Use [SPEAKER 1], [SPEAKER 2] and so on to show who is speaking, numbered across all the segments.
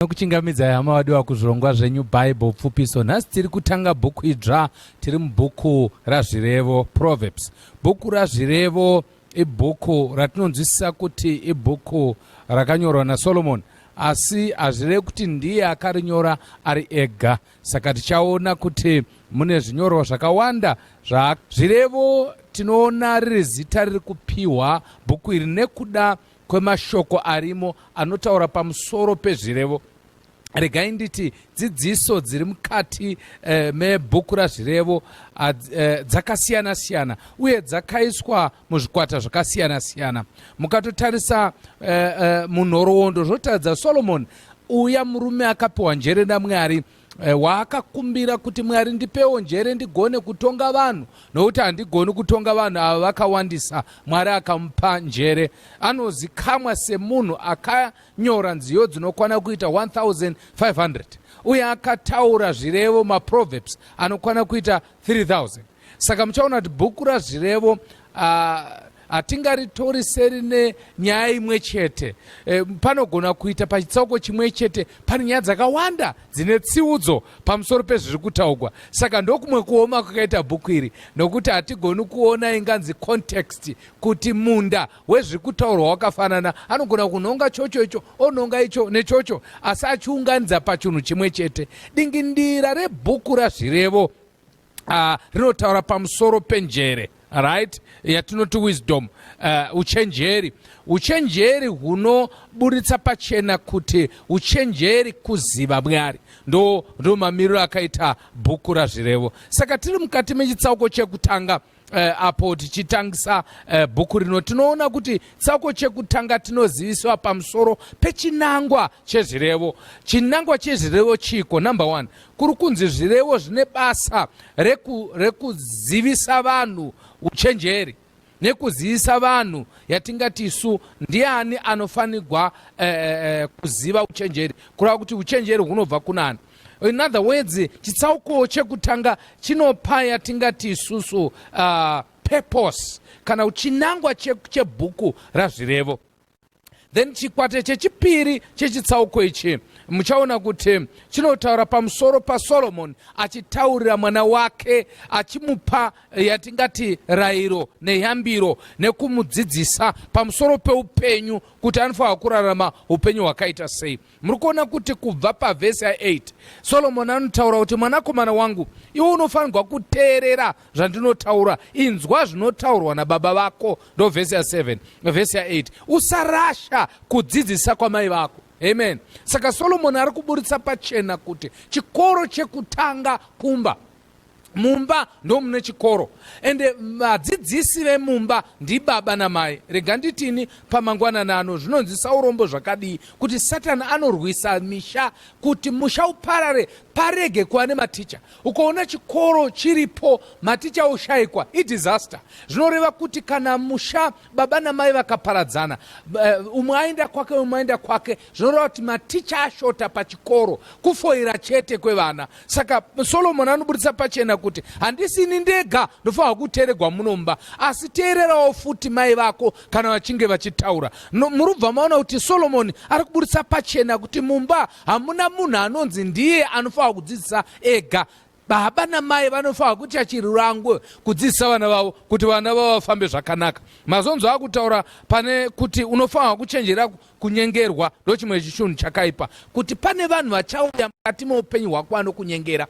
[SPEAKER 1] Tinokuchingamidzai hama vadiwa kuzvirongwa zvenyu Bible pfupiso. Nhasi tiri kutanga bhuku idzva, tiri mubhuku raZvirevo, Proverbs. Bhuku raZvirevo ibhuku ratinonzwisisa kuti ibhuku rakanyorwa naSolomoni asi hazvirevi kuti ndiye akarinyora ari ega. Saka tichaona kuti mune zvinyorwa zvakawanda zvirevo tinoona riri zita riri kupiwa bhuku iri nekuda kwemashoko arimo anotaura pamusoro pezvirevo regai nditi dzidziso dziri mukati eh, mebhuku razvirevo ah, eh, dzakasiyana siyana uye dzakaiswa muzvikwata zvakasiyana siyana mukatotarisa eh, eh, munhoroondo zvotaridza solomoni uya murume akapiwa njere namwari Eh, waakakumbira kuti mwari ndipewo njere ndigone kutonga vanhu nokuti handigoni kutonga vanhu ava vakawandisa mwari akamupa njere anozikamwa semunhu akanyora nziyo dzinokwana kuita 1500 uye akataura zvirevo maproverbs anokwana kuita 3000 saka muchaona kuti bhuku razvirevo uh, hatingaritori seri nenyaya imwe chete e, panogona kuita pachitsauko chimwe chete pane nyaya dzakawanda dzine tsiudzo pamusoro pezviri kutaugwa saka ndokumwe kuoma kwakaita bhuku iri nokuti hatigoni kuona inganzi context kuti munda wezviri kutaurwa wakafanana anogona kunhonga chocho icho onhonga icho nechocho asi achiunganidza pachinhu chimwe chete dingindira rebhuku razvirevo uh, rinotaura pamusoro penjere right yatinoti wisdom uh, uchenjeri uchenjeri hunoburitsa pachena kuti uchenjeri kuziva mwari ndo, ndo mamiriro akaita bhuku razvirevo saka tiri mukati mechitsauko chekutanga eh, apo tichitangisa eh, bhuku rino tinoona kuti tsauko chekutanga tinoziviswa pamusoro pechinangwa chezvirevo chinangwa chezvirevo chiiko number one kuri kunzi zvirevo zvine basa reku, rekuzivisa vanhu uchenjeri nekuzivisa vanhu yatingati isu ndiani anofanirwa eh, eh, eh kuziva uchenjeri kureva kuti uchenjeri hunobva kunani in other words chitsauko chekutanga chinopa yatingati isusu uh, purpose kana uchinangwa chebhuku che razvirevo then chikwata chechipiri chechitsauko ichi muchaona kuti chinotaura pamusoro pasoromoni achitaurira mwana wake achimupa eh, yatingati rairo neyambiro nekumudzidzisa pamusoro peupenyu kuti anofanira kurarama upenyu hwakaita sei muri kuona kuti kubva pavhesi ya8 solomoni anotaura kuti mwanakomana wangu iwe unofanirwa kuteerera zvandinotaura inzwa zvinotaurwa nababa vako ndo vhesi ya7 vhesi ya8 usarasha kudzidzisa kwamai vako amen saka solomoni ari kuburitsa pachena kuti chikoro chekutanga kumba mumba ndomune chikoro ende eh, vadzidzisi vemumba ndibaba namai rega nditini pamangwanana ano zvinonzwisa urombo zvakadii kuti satani anorwisa misha kuti musha uparare parege kuva nematicha ukaona chikoro chiripo maticha oshaikwa idisaster zvinoreva kuti kana musha baba namai vakaparadzana eh, umwe aenda kwake umwe aenda kwake zvinoreva kuti maticha ashota pachikoro kufoira chete kwevana saka solomoni anoburitsa pachena kuti handisi ini ndega ndofanirwa kuteeregwa munomba asi teererawo futi mai vako kana vachinge vachitaura no, murubva maona kuti solomoni ari kuburitsa pachena kuti mumba hamuna munhu anonzi ndiye anofanirwa kudzidzisa ega Baba namai vanofanira kuita chirangwe kudzidzisa vana vavo kuti vana vavo vafambe zvakanaka. Mazonzo akutaura pane kuti unofanira kuchenjera kunyengerwa ndochimwe chinhu chakaipa, kuti pane vanhu vachauya mukati meupenyu hwako vanokunyengera.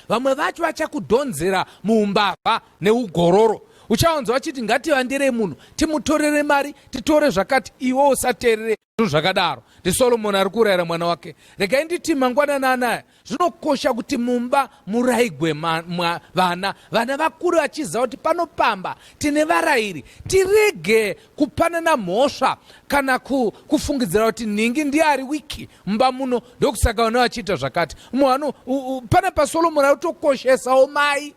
[SPEAKER 1] Vamwe vacho vachakudhonzera muumbavha neugororo uchawanzwa vachiti ngativandirei munhu timutorere mari titore zvakati iwe usateerere Zvinhu zvakadaro ndiSolomoni ari kurayira mwana wake. Regai nditi mangwanani anaya zvinokosha kuti mumba murayigwe vana, vana vakure vachiziva kuti pano pamba tine varayiri. Tirege kupanana mhosva kana kufungidzira kuti nhingi ndiye ari wiki mumba muno ndokusaka vana vachiita zvakati. Umwe vano pana paSolomoni ari kutokoshesawo mai.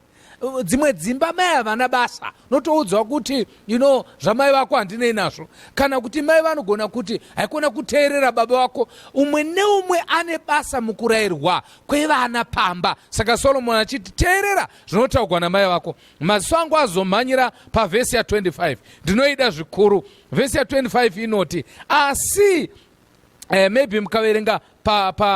[SPEAKER 1] dzimwe dzimba mai havana basa notoudzwa kuti you know zvamai vako handinei nazvo kana kuti mai vanogona kuti haikona kuteerera baba vako umwe neumwe ane basa mukurayirwa kwevana pamba saka solomoni achiti teerera zvinotaugwa namai vako maziso angu azomhanyira pavhesi ya25 ndinoida zvikuru vhesi ya25 inoti asi eh, maybe mukaverenga pa, pa,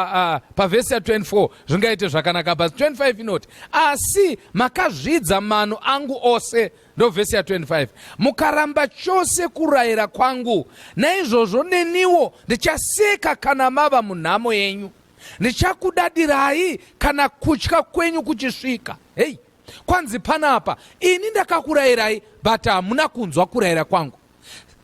[SPEAKER 1] uh, pa vhesi ya 24 zvingaite zvakanaka bas 25 inoti asi makazvidza mano angu ose ndovhesi ya 25 mukaramba chose kurayira kwangu naizvozvo neniwo ndichaseka kana mava munhamo yenyu ndichakudadirai kana kutya kwenyu kuchisvika hei kwanzi panapa ini ndakakurayirai but hamuna kunzwa kurayira kwangu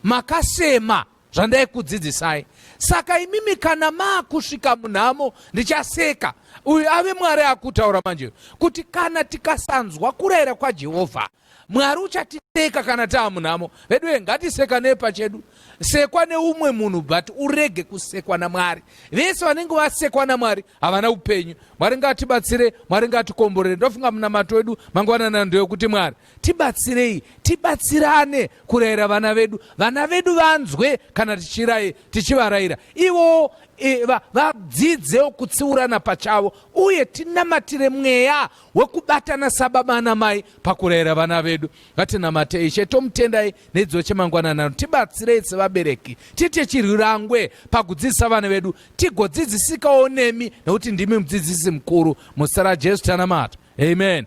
[SPEAKER 1] makasema zvandaikudzidzisai. Saka imimi kana maakusvika munhamo ndichaseka. Uyu ave Mwari akutaura manje kuti kana tikasanzwa kurayira kwaJehovha Mwari uchatiseka kana taa munhamo. Veduwe ngatiseka nepachedu. Sekwa neumwe munhu but urege kusekwa naMwari. Vese vanenge vasekwa naMwari havana upenyu. Mwari ngatibatsire, Mwari ngatikomborere. Ndofunga munamato wedu mangwanana ndeyokuti Mwari Tibatsirei tibatsirane kurayira vana vedu, vana vedu vanzwe kana tichirai tichivarayira ivowo e, va, vadzidzewo kutsiurana pachavo, uye tinamatire mweya wekubatana sababa namai pakurayira vana vedu. Ngatinamatei Ishe, tomutendai nedzidzo chemangwananano. Tibatsirei sevabereki tiite chirwirangwe pakudzidzisa vana vedu, tigodzidzisikawo nemi nekuti ndimi mudzidzisi mukuru. Muzita raJesu tanamata, amen.